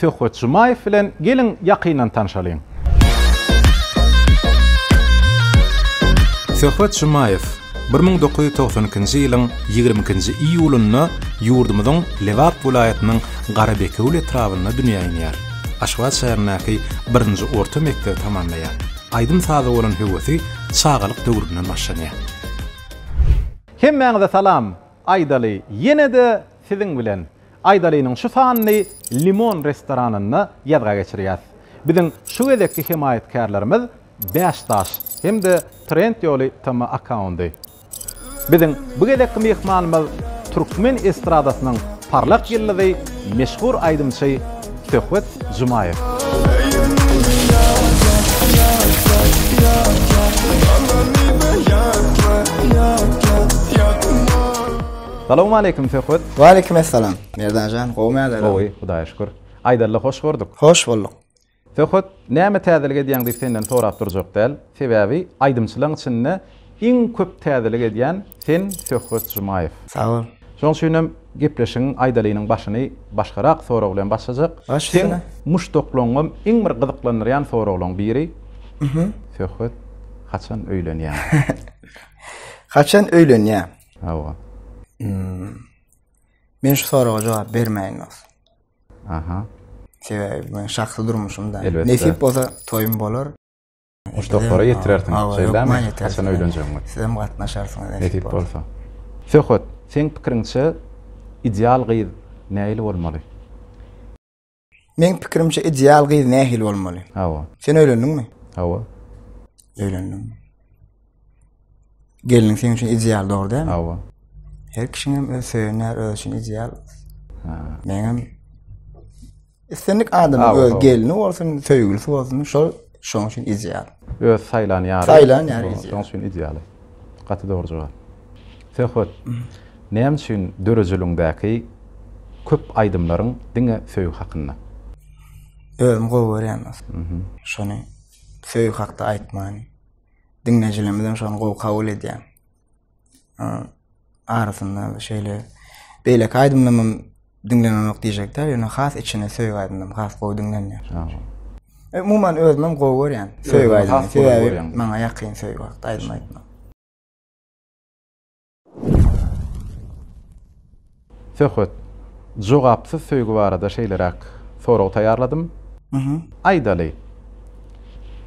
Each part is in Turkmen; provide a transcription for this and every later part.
Söhbet Jumaýew bilen geliň ýakyndan tanşalyň. Söhbet Jumaýew bir müň dokuz ýüz togsan ikinji ýylyň ýigrimi ikinji iýulynda ýurdumyzyň Lebap welaýatynyň Garabekewül etrabynda dünýä inýär. Aşgabat şäherindäki birinji orta mekdebi tamamlaýar. Aýdym-saza bolan höwesi çagalyk döwründen başlanýar. Hemmäňize salam! Aýdaly ýene-de siziň bilen. Aýdalynyň şu sanyny Limon restoranynda ýazga geçirýäs. Biziň şu gezekki hemaýatkärlerimiz Bäş daş hem-de Trend ýoly TM akkaundy. Biziň bu gezekki myhmanymyz türkmen estradasynyň parlak ýyldyzy meşhur aýdymçy Söhbet Jumaýew. Salowmaleýkim Söhbet. Waleýkim essalam. Merdanjan gowmy älerim. Gowy Hudaýa şükür. Aýdalla hoş gördük. Hoş bulduk. Söhbet näme täzelik edýäň diýip senden sorap durjak däl, sebäbi aýdymçylaň içinde iň köp täzelik edýän sen Söhbet Jumaýew. Sag bol. Şoň üçinem gepleşigiň Aýdalynyň başyny başgarak sorag bilen başlajak. Baş Seň üstüne. muşdaklaňňam iň bir gyzyklandyrýan soraglaň biri Söhbet haçan öýlenýäň. Haçan öýlenýäň. Hawa. Men şu soraga jogap bermäýin dos. Aha. Sebäbi men şahsy durmuşymda. Nesip bolsa toýum bolar. Uç doktora ýetirersiň. Şeýdämi? Haçan öýlenjegiňi. Sizem gatnaşarsyňyz. Nesip bolsa. Söhbet, seň pikiriňçe ideal gyz nähili bolmaly? Meň pikirimçe ideal gyz nähili bolmaly? Hawa. Sen öýlendiňmi? Hawa. Öýlendim. Gelniň seň üçin ideal dogry däl? Hawa. Her kişiň hem öz söýenler öz üçin ideal. Ha. Meň hem islendik adamyň öz gelni bolsun, söýgülisi bolsun, şol Şoň üçin ideal. Öz saýlan ýary. Saýlan ýary ideal. Şoň üçin ideal. Gaty dogry jogap. Söhbet. Näme üçin döredijiligiňdäki köp aýdymlaryň diňe söýgi hakynda? Özüm gowy görýän. Şony söýgi hakda aýtmany. Diňleýjilerimiz hem şony gowy kabul edýär. arasynda şeýle beýleki aýdymlarym diňlenenok diýjekde ýöne has içine söýgi aýdymlarym has gowy diňlenýär e, umuman özümem gowy görýän söýgi aýdymlaryny sebäbi maňa ýakyn söýgi wagt aýdym aýtmak Söhbet, Jogapsyz söýgi barada şeýleräk sorag taýýarladym. Aýdaly,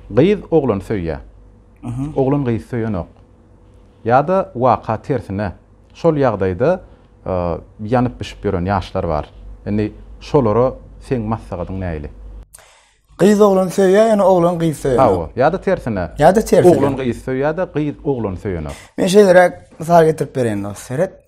gyz oglany söýýär. Oglan gyzy söýenok. Ýa-da waka tersine, şol ýagdaýda ýanyp-bişip ýören ýaşlar bar. Indi şolara seň maslahatyň näili? Gyz oglany söýýär, ýöne oglan gyzy söýenok. Hawa, ýa-da tersine. Ýa-da tersine. Oglan gyzy söýýär-de, gyz oglany söýenok. Men şeýleräk mysal getirip bereýin, dost, seret.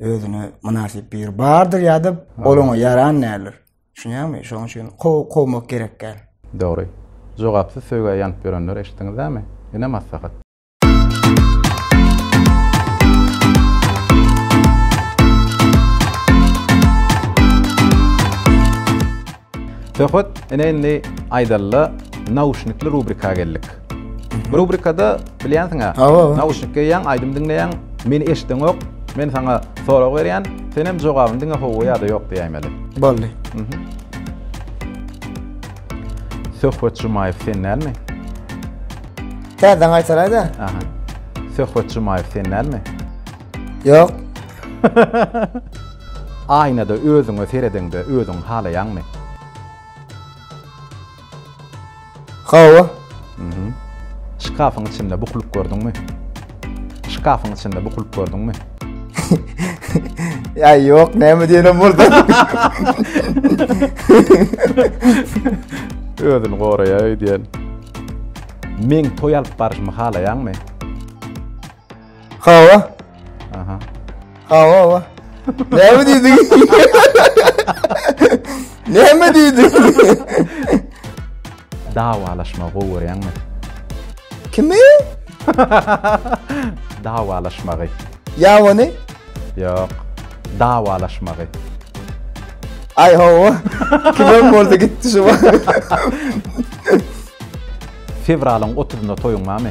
özüne mynasyp biri bardyr ýa-da ol oňa ýaran däldir. Düşünýärmi? Şonuň üçin kow kowmak gerek däl. Dogry. Jogapsyz söýgä ýanyp ýörenleri eşitdiňizlämi? Ine maslahat. Söhbet ine indi aýdalyla nauşnikli rubrika geldik. Bu rubrikada bilýänsiň-ä, nauşnik geýýäň, aýdym diňleýäň, meni eşideňok, men saňa sorag berýän, senem jogabyny diňe hawa ýa-da ýok diýäýmeli. Boldy. Söhbet Jumaýew sen dälmi? Täzeden gaýtalaý-da. Aha. Söhbet Jumaýew sen dälmi? Ýok. Aýnada özüňe seredeňde özüňi halaýaňmy? Hawa. Mhm. Şkafyň içinde bukulyp gördüňmi? Şkafyň içinde bukulyp gördüňmi? Ýa ýok, näme diýenem bolsa. Özüni goraýaý diýen. Men toý alyp baryşymy halaýaňmy? Hawa. Aha. Hawa hawa. Näme diýdiň? Näme diýdiň? Dawalaşma gowy görýäňmi? Kimi? Dawalaşmagy. Ýawany? Ýok. Dawalaşmagy. Aý hawa. Kimem bolsa gitdi şu. Fewralyň otuzynda toýuň barmy?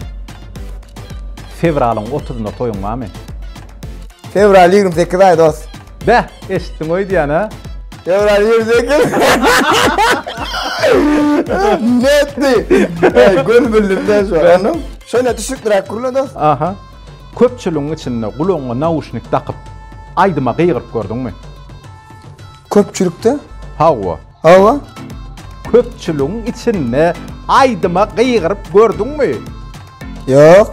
Fewralyň otuzynda toýuň barmy? Fewral ýigrimi sekiz aý dost. Beh, eşitdiň öýdýän a? Fewral ýigrimi sekiz. Netdi. Eý, göni bildim-de şu an. Şeýle düşnükliräk gürle dost. Aha. Köpçüligiň içinde gulagyňa nauşnik dakyp, aýdyma gygyryp gördüňmi? Köpçülikde? Hawa. Hawa, köpçüligiň içinde aýdyma gygyryp gördüňmi? Ýok.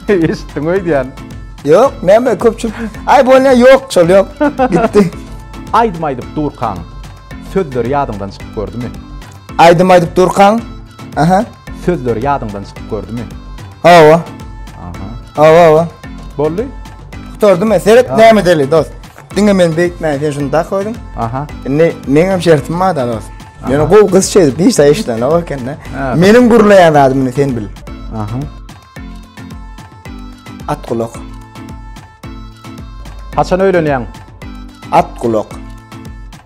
Eşitdiň öýdýän. Ýok, näme köpçülik. Aý bolýa, ýok, şol ýok. Gitdi. Aýdym aýdyp durkaň, sözleri ýadyňdan çykyp gördümi? Aýdym aýdyp durkaň, aha. Sözleri ýadyňdan çykyp gördümi? Hawa. Aha. Hawa, hawa. Boldy. Gutardym, seret näme edeli, dost. Diňe men beýtmäň, sen şuny dak özüň. Aha. Indi meňem şertim bar da dost. Meni gowy gyz çezip hiç de işlene o ekende. Meniň gurlaýan zadymy sen bil. Aha. At gulak. Haçan öýlenýäň? At gulak.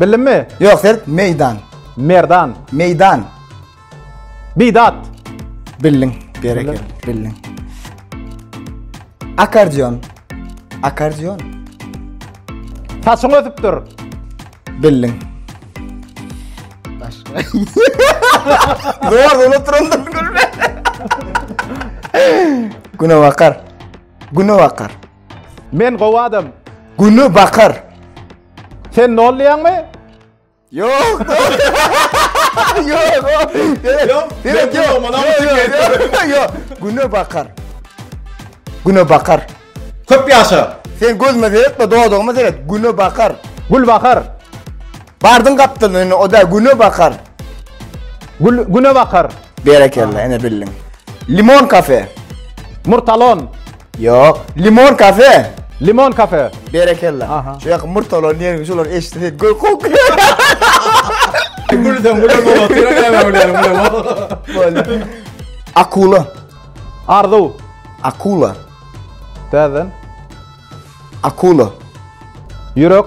Bildimmi? Ýok, sert meýdan. Merdan. Meýdan. Bidat. Bildiň. Berekella. Bildiň. Akardion. Akardion. Saçyň ösüpdir. Bildiň. Başga. Zor unutdyryndyr gülme. Güne bakar. Güne bakar. Men gowy adam. Güni bakar. Sen nollyyan mı? Yok. Yok. Yok. Direkt yok. Yok. Yok. Güne bakar. Güne bakar. Köp yaşa. Sen gözme seyretme doğduğuma seyret. Güne bakar. Gül bakar. Bardın kaptın önüne o da güne bakar. Gül, güne bakar. Berekella ene bildin. Limon kafe. Murtalon. Ýok. Limon kafe. Limon kafe. Berekella. Aha. Şu ýaky murtalar nergi şular eşitse gök kok. Gülden gülden baba. Tira näme bilerim bilerim. Akula. Arzuw. Akula. Täzen. Akula. Ýürek.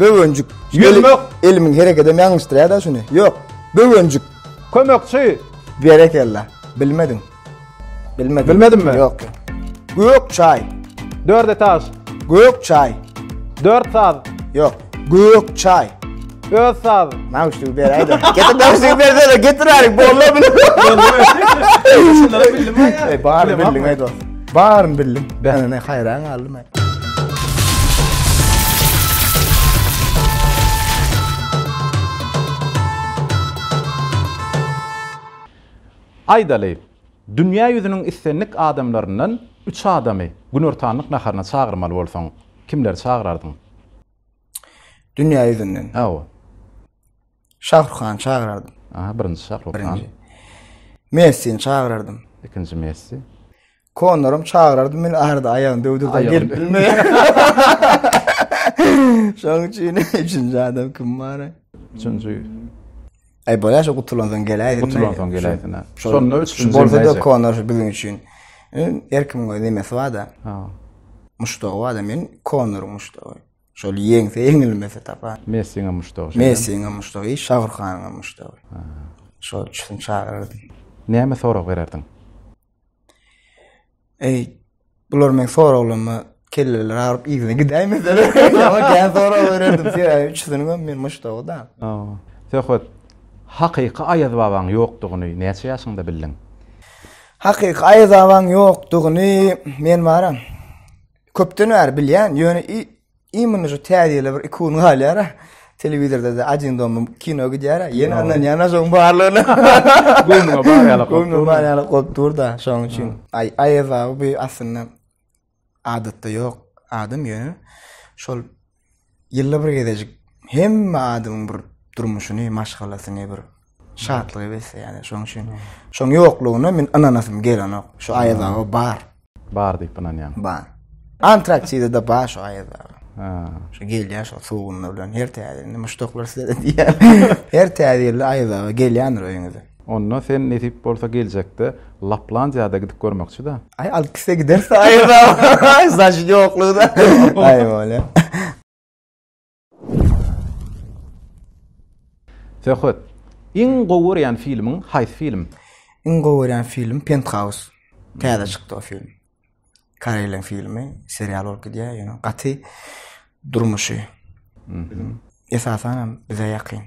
Böwenjik. Ýürmek. Elimiň hereketi hem ýalňyşdyrýar-da şuny. Ýok. Böwenjik. Kömekçi. Berekella. Bilmediň. Bilmedim. Bilmedimmi? Ýok. Gök çaý. Dört etaž. Gök çaý. Dört saz. Ýok. Gök çaý. Öz saz. Nauşnigi beräýde. Getir nauşnigi bersene, getir aýryk, bolla bilen. Şunlara bildim aýa. Bar bildim aýda. Baryn bildim. Bäne ne haýran galdym aý. Aýdaly, dünýä ýüzüniň islendik adamlaryndan üç adamy günortanlyk naharyna çagyrmaly bolsaň, kimleri çagyrardyň? Dünýä ýüzünden. Hawa. Şahruk hany çagyrardym. Aha, birinji Şahruk han. Birinji. Messini çagyrardym. Ikinji Messi. Konoram çagyrardy, men arada aýagyny döwdürdim, gelip bilmeýär. Şoň üçin üçünji adam kim bar? Üçünji. Aý bolýar, şo gutulan soň geläýsin. Gutulan soň geläýsin. Şonda üçünji. Bolsa-da Konor biziň üçin. Her kimiň öz nemesi bar-da. Ha. Muşdagy bar-da, men Konoryň muşdagy. Şol ýeňse, ýeňilmese tapar. Messiň muşdagy. Messiň muşdagy, Şahrukhanyň muşdagy. Ha. Şol üçünji çagyrardy. Näme sorag bererdiň? Eý, bular men soraglaryma kelleleri aryp yzyna gidäýmeseler. Ýa-da gän sorag bererdim. Sebäbi üçüsiniň hem men muşdagy da. Söhbet hakyky Aýaz babaň ýokdugyny näçe ýaşyňda bildiň? Hakyky Aýaz babaň ýokdugyny men baram köpden bäri bilýän, ýöne Imini şu täzele bir iki gün galýar. Telewizorda da ajyn domy kino gidýär. Ýene ondan ýana şoň barlygyna. Göwnüme bar ýaly. Göwnüme bar ýaly goýup dur da şoň üçin. Ay Aýaz abi bu aslynda adatda ýok adam ýöne şol ýylda bir gezejik hemme adamyň bir durmuşyny, maşgalasyny bir Şatlygy besleýär. Şonuň üçin şoň ýoklugyna men ynanasym gelenok. Şu Aýaz aga bar. Bar diýip ynanýaň. Bar. Antraksida-da bar şu Aýaz aga. Ha. Şu gelýär şu suwunda bilen her täzirinde muşdaklar size diýýär. Her täzirinde Aýaz aga gelýändir öýüňize. Onda sen nesip bolsa geljekde Laplandiýada gidip görmekçi-dä. Aý alyp gitse gideris-dä Aýaz aga. Aý zaşit ýoklugy-da. Aý bolýa. Söhbet. Iň gowy görýän filmiň haýsy film? Iň gowy görýän film Penthouse. Täze çykdy o film. Koreýleriň filmi, serial bolup gidýär, ýöne gaty durmuşy. Esasan hem bize ýakyn.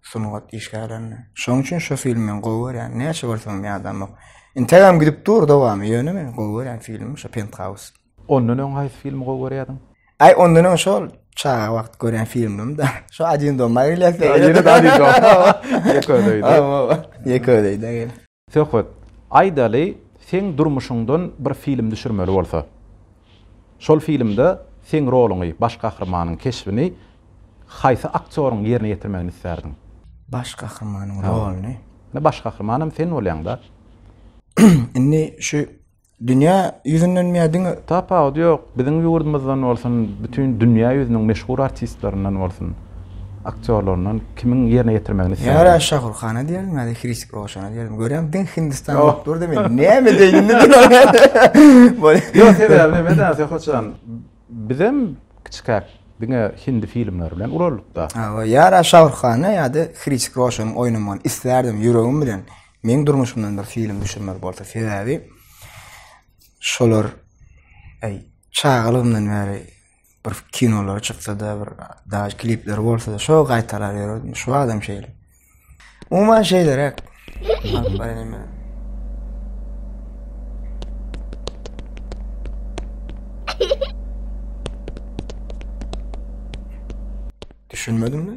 Sungat işgärlerine. Şonuň üçin şu filmi men gowy görýän. Näçe bolsam ýadamok. Integem gidip dur dowamy, ýöne men gowy görýän filmim şu Penthouse. Ondan öň haýsy filmi gowy görýärdiň? Ay ondan öň şol çaga wagt gören filmim da. Şu Adin Doma geliyorsa. Yine de Adin Doma. Yeködeydi. Ama Yeködeydi gel. Söhbet. Aydaly sen durmuşuňdan bir film düşürmeli bolsa. Şol filmde sen roluňy, baş gahrymanyň keşbini haýsy aktýoryň ýerine ýetirmegini islärdiň? Baş gahrymanyň roluny. Ne baş gahrymanyň sen bolýaň da. Indi şu Dünýä ýüzünden miä diňe Tapawudy ýok, biziň ýurdumyzdan bolsun, bütin dünýä ýüzüniň meşhur artistlerinden bolsun, aktýorlaryndan kimiň ýerine ýetirmegini isleýärdi? Ýa-da Şahruh Hana diýerdim ýa-da Hrisik Roşana diýerdim. Görýäňmi, diňe Hindistan bolup oh. durdy, men näme diýdim indi diňe. Ýok, sebäbi näme däl, Sehojan, bizem kiçikäk diňe hindi filmleri bilen ulaldyk-da. Hawa, ýa-da Şahruh Hana ýa-da Hrisik Roşanyň oýnamagyny isleýärdim ýüregim bilen. Meň durmuşymdan bir film düşürmeli bolsa sebäbi şolar eý çagalygymdan bäri bir kinolara çyksa-da bir daş klipler bolsa-da şo gaýtalap ýördim. Şu adam şeýle. Umuman şeýleräk. Düşünmedim mi?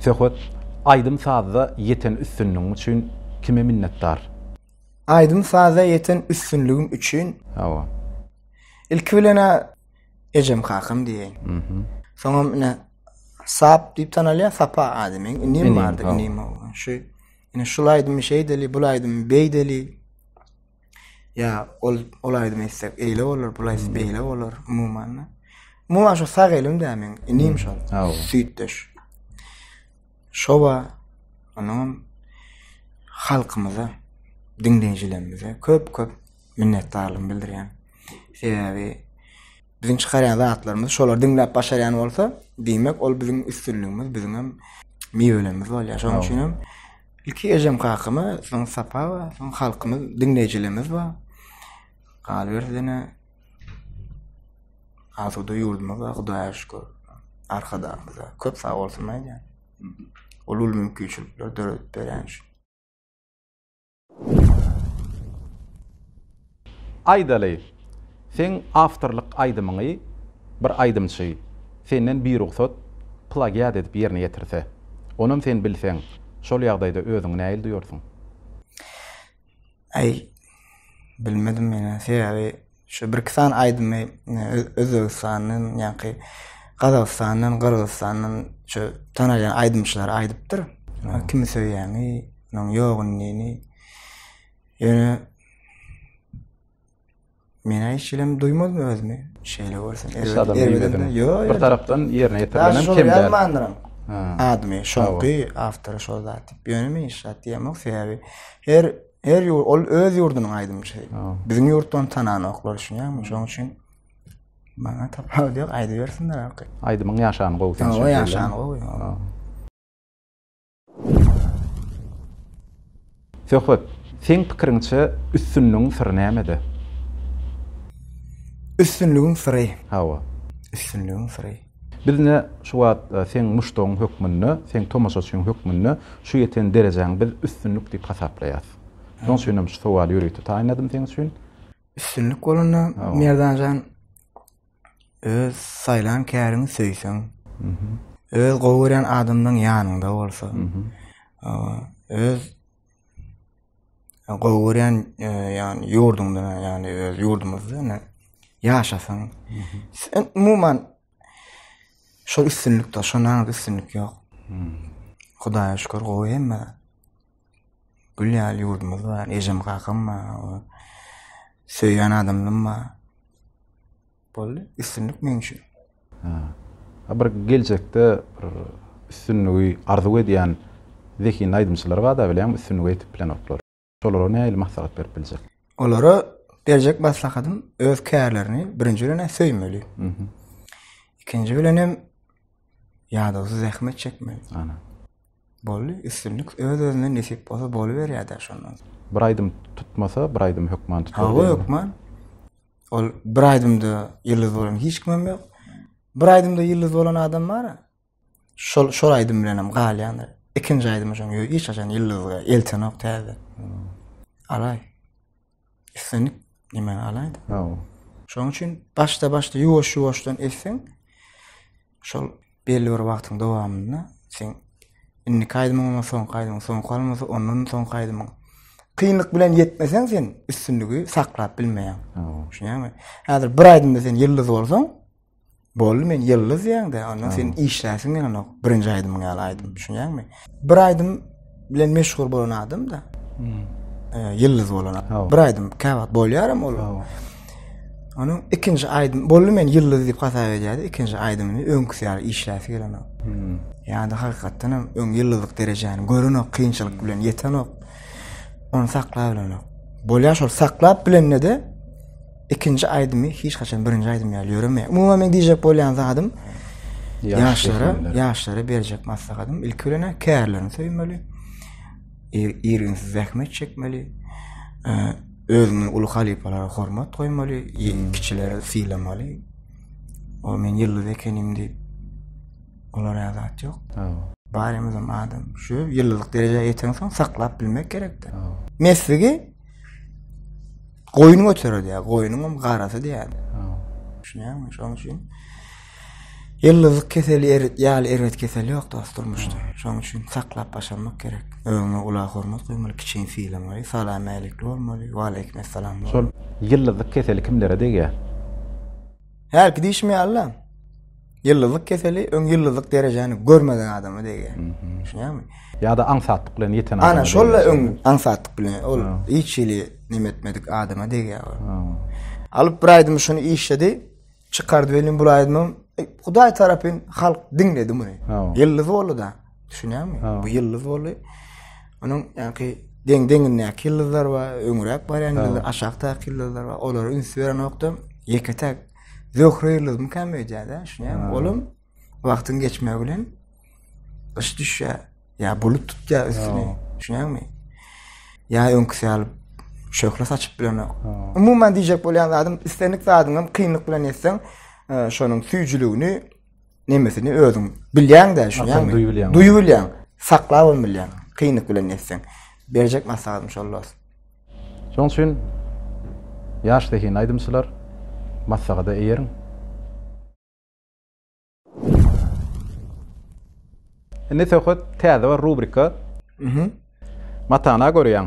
Söhbet aýdym sazda ýeten üstünligiň üçin kime minnetdar? Aýdym sazda ýeten üstünligim üçin. Hawa. Ilki bilen a ejem kakam diýeýin. Mhm. Soňam ine Sap diýip tanalýar, Sapa ady meň inim bardy, inim şu ine şul aýdymy şeýdeli, bul aýdymy beýdeli. Ýa ol ol aýdym etsek eýle bolar, bul aýdym beýle bolar umuman. Umuman şu sag elim dä men, inim şol. Süýtdeş. Şowa onuň halkymyza, diňleýjilerimize köp-köp minnetdarlygymy bildirýän. Sebäbi biziň çykarýan zatlarymyzy şolar diňläp başarýan bolsa, diýmek ol biziň üstünligimiz, biziň hem miwelerimiz bolýar. Şonuň üçin hem Ilki ejem kakama soň sapaba soň halkymyz diňleýjilerimiz bar. Galyberse ýene asuda ýurdumyz bar Hudaýa şükür. Arkadagymyza köp sag bolsun aýdýan. Ol uly mümkinçilikleri döredip berýän üçin. Aýdaly, seň awtorlyk aýdymyňy bir aýdymçy senden birugsat plagiat edip ýerine ýetirse, onam sen bilseň, şol ýagdaýda özüňi nähili duýarsyň? Aý, bilmedim menä. Sebäbi şu birki sany aýdymy Özbegistandan, ýaňky Gazagystandan, Gyrgyzystandan şu tanalýan aýdymçylar aýdypdyr. Kimi söýýäňi, onuň ýok indini. Ýöne Men hiç şeýlem duýmadym özümi. Şeýle bolsun. Erbedin. Ýok. Bir tarapdan ýerine ýetirilen kemler. Ýazmandyrym. Admy şoňky awtor şol zat diýip. Ýöne men hiç zat diýemok. Sebäbi her her ýurt ol öz ýurdunyň aýdymçysy. Biziň ýurtdan tananoklar üçin ýagny şoň üçin maňa tapawut ýok. Aýdybersinler. Aýdymyň ýaşany gowy sen şeýle. Ýaşany gowy. Söhbet, seň pikiriňçe üstünligiň syry nämede? Üstünligiň syry. Hawa. Üstünligiň syry. Biz ine şu wagt seň muşdagyň hökmünde, seň tomaşaçyň hökmünde şu ýeten derejäňi biz üstünlik diýip hasaplaýarys. Şonuň üçin hem şu sowaly ýörite taýynladym seň üçin. Üstünlik bolanda Merdanjan öz saýlan käriňi söýseň, öz gowy görýän adamlaryň ýanyňda bolsa, öz gowy görýän e, ýagny ýurduňda, ýagny öz ýurdumyzda ýagny ýaşasaň, umuman şol üstünlikde, şondan üstünlik ýok. Hudaýa şükür, gowy hemme. Gül ýaly ýurdumyz bar, ejem kakam bar. Söýýän adamym bar. Boldy, üstünlik meň üçin. Ha. Bir geljekde bir üstünligi arzuw edýän zehinli aýdymçylar bar-da bilýäňmi, üstünlige ýetip bilenoklar. Şolara nähili maslahat berip biljek? Olara berjek maslahatym öz kärlerini birinji bilen-ä söýmeli. Ikinji bilenem ýadawsyz zähmet çekmeli. Ana. Boldy üstünlik öz özüne nesip bolsa boluberýädä şondan soň. Bir aýdym tutmasa bir aýdym hökman tutar diýen. Hawa hökman. Ol bir aýdymda ýyldyz bolan hiç kimem ýok. Bir aýdymda ýyldyz bolan adam bara. Şol şol aýdym bilenem galýandyr. Ikinji aýdymy şoň hiç haçan ýyldyzga eltenok täze. Alaý. Islenip nime alaýda. Hawa. Şoň üçin başda-başda ýuwaş-ýuwaşdan etseň, şol belli bir wagtyň dowamynda sen indi kaýdymyň we soň kaýdymyň soň kalmasa, ondan soň kaýdymyň kynlyk bilen ýetmeseň sen üstünligi saklap bilmeýäň. Hawa. Şuňa Häzir bir aýdymda sen ýyldyz bolsaň, Boldy men ýyldyz diýäňde, ondan sen işläsiň ýaly birinji aýdymyň ýaly aýdym, düşünýäňmi? Bir aýdym bilen meşhur bolan adam da. Hmm. E, ýyldyz bolan. Bir aýdym käwagt bolýaram ol. Onuň ikinji aýdym boldy men ýyldyz diýip hasap edýärdi, ikinji aýdymyny öňküsi ýaly işläsi gelen ok. Hmm. Ýa-da hakykatdan hem öň ýyldyzlyk derejäni gören ok, kynçylyk bilen ýeten ok. Onu saklap bilen ok. Bolýar şol saklap bilende de Ikinji aýdymy hiç haçan birinji aýdym ýaly ýöremeýär. Umuman men diýjek bolýan zadym ýaşlara, ýaşlara berjek maslahatym ilki bilen kärlerini söýmeli. Ýerginsiz zähmet çekmeli. Özüni uly halypalara hormat goýmaly, ýeňil kiçileri sylamaly. O men ýylly zekenim diýip olar ýadat ýok. Barymyzam adam. Şu ýyllylyk derejä ýeten soň saklap bilmek gerekdi. Mesligi Goýun göterer ya, goýunyň hem garasy diýýär. Düşünýärmi? Şonuň üçin ýyldyzlyk keseli erit ýaly erbet kesel ýok dost durmuşda. Şonuň üçin saklap başarmak gerek. Öňe ula hormat goýmaly, kiçini sylamak, salam älikli bolmaly, we aleýkum assalam. Şol ýyldyzlyk keseli kimlere degýär? Hälki diýşim ýaly-la. Ýyldyzlyk keseli öň ýyldyzlyk derejäni görmedik adama degýär. Düşünýäňmi? Ýa-da aňsatlyk bilen ýeten adama. Ana, şol öň aňsatlyk bilen ol hiç hili neme etmedik adama degýär. Alyp bir aýdym şuny işledi, çykardy welin bu aýdymym e, Hudaý tarapyn halk diňledi muny. Ýyldyz boldy da. Düşünýäňmi? Bu ýyldyz boldy. Onuň ýaňky deň deňindäki ýyldyzlar bar, öňräk barýan ýyldyzlar, aşakdaky ýyldyzlar bar. Olara üns berenokda, ýeke-täk Zöhre ýyldyzmy käm öýdýär-dä, şunem olam wagtyň geçmegi bilen yş düşýär. Ýa bulut tutýar üstüni. Şuňaňmy? Ýa öňküsi ýaly şöhle saçyp bilenok. Umuman diýjek bolýan zadym, islendik zadyňam kynlyk bilen etseň, e, şonuň süýjüligini nemesini özüň bilýäň de şuňa duýup bilýäň duýup bilýäň saklap hem bilýäň kynlyk bilen etseň berjek maslahatym şol dost şoň üçin ýaş zehin aýdymçylar maslahata eýeriň indi söhbet täze bir rubrika matana görýäň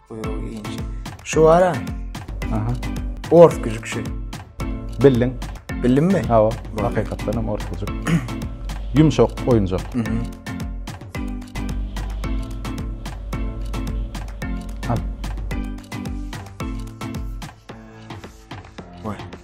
Buýrugy inçe. Şu bara. Aha. Ors güjük şu. Bildiň. Bildimmi? Hawa. Hakykatdan hem ors güjük. Yumşak oyuncak.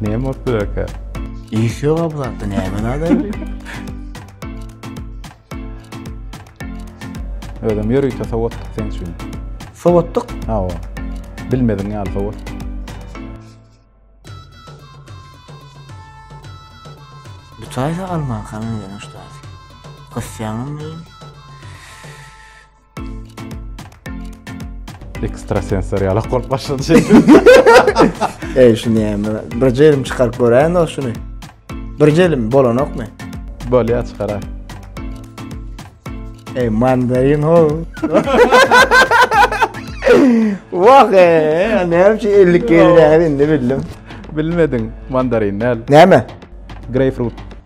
Näme bolup bilerkä? Iş ýog-a bu zatda, näme nazary? Özem ýörite sowatdyk seň üçin. Sowatdyk? Hawa. Bilmediň ýaly sowatdyk. Bu taýsa almanka meňzeýän uçdasy. Gysýaňmy? Ekstrasensoriýalak bolup başlady şey. Ey şunu ýeme. Bir jelim çykaryp göräýin o şunu. Bir jelim bolanokmy? Bolýa çykara. Ey mandarin ho. Wah ey, näme üçin 50 gelýär indi bildim. Bilmediň mandarin näl? Näme? Greyfrut.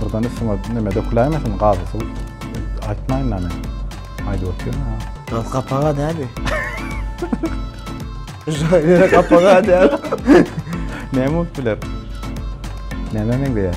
Birden üstüme neme döküläýmesin gazy suw. Aýtmaýyn da men. Aýdyp otyryn ha. Gaz gapaga däbi. Şaýyra gapaga däbi. Näme bolup biler? Nämä meňzeýär?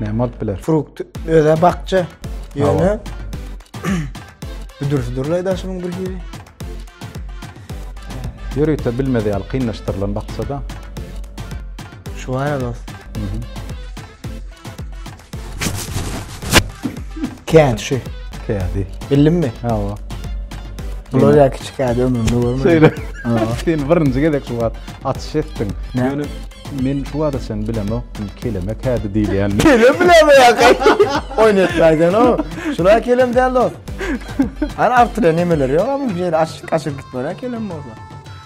Näme bolup biler? Frukt öze bakja. Ýöne büdürsi durlay daşymyň bir hili. Ýörite bilmedi ýaly kynlaşdyrylan baksa da. Şu aýa dost. Kent şu. Kädi. Bildin mi? Ha o. Bular ya küçük ya ömrümde görmedim. Söyle. Sen birinci gezek şu wagt atyş ettin. Ne? Yani men şu wagt sen bilemok. Keleme kädi diýilýän. Kelem bilemok ýa. Oýnatmaýdan o. Şuna kelem däl o. Ana artyra nemeler ýok ama bir ýere aşyk aşyk gitmere kelem bolsa.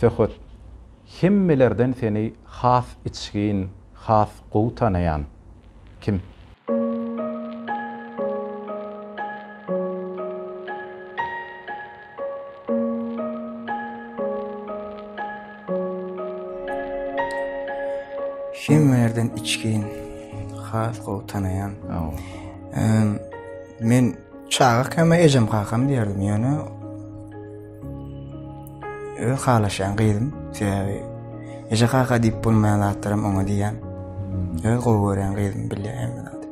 Söhbet Hemmelerden seni has içgin, has gowy tanaýan kim? Hemmelerden içgin, has gowy tanaýan. Men. Çaga käme ejem kakam diýerdim ýöne öz halaşýan gyzym sebäbi eje kaka diýip bolmaýan zatlarym oňa diýýän hmm. öz gowy görýän gyzym bilýär hemme zady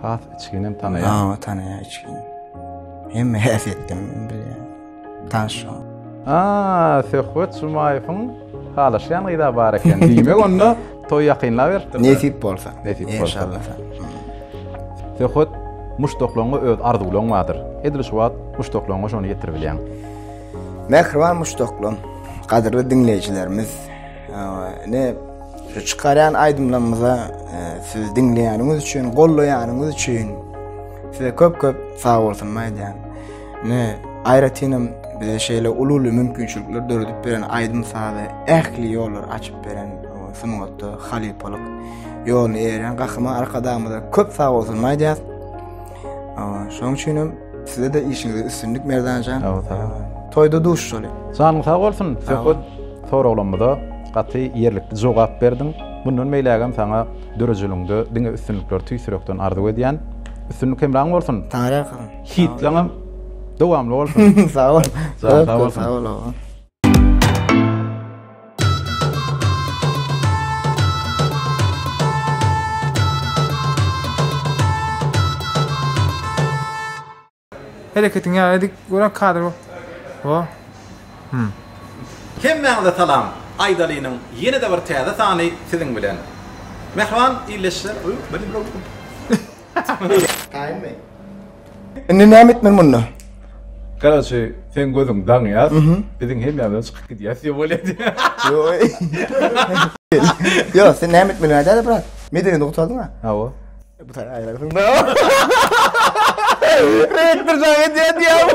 has içginem tanaýar ha tanaýar içgin hemme häsiýetden bilýär Tanyş şoňa. Aa, Söhbet Jumaýewiň halaşýan gyza bar eken. Diýmek onda toý ýakynlap ýer. Nesip bolsa. Nesip bolsa. Inşallah. Söhbet muşdaklaryňa öz arzuwlaryň bardyr. Edil şu wagt muşdaklaryňa şony ýetirip bilýäň. Mähriban muşdaklarym, gadyrly diňleýjilerimiz, ne şu çykarýan aýdymlarymyza e, siz diňleýäniňiz üçin, gollaýanyňyz üçin size köp-köp sag bolsun aýdýan. Ne, aýratynam bize şeýle uly-uly mümkinçilikler döredip beren aýdym-sazy ähli ýollar açyp beren sungatda halypalyk ýoluny eýerýän Gahryman Arkadagymyza köp sag bolsun aýdýas. Şoň üçin hem size de işiňizde üstünlik Merdanjan. Toýda duşuşaly. Janyň sag bolsun. Söhbet soraglarymyza gaty ýerlikli jogap berdiň. Mundan beýlägem saňa döredijiligiňde diňe üstünlikleri tüýs ýürekden arzuw edýän. Üstünlik hemraň bolsun. Taňry ýalkasyn. Hitleňem dowamly bolsun. Sag bol. Sag sag bolsun. Sag bol. Hereketiň ýa edik gören kadr bol. O. Hmm. Hemmäňize salam! Aýdalynyň ýene-de bir täze sany siziň bilen. Mähriban illeşler. Taýynmy? Indi näme etmeli munda? Garaşy, sen gözüň daň ýaz. Biziň hemýamyzdan çykyp gidýäs diýip bolýar. Ýo, sen näme etmeli nädäle brat? Medeni nuktadan ha. Hawa. Bu taýy aýragyň da. Rektor jaň edýär diýýär.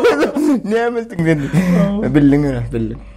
Näme etdiň sen? Bildiň ýöne, bildiň.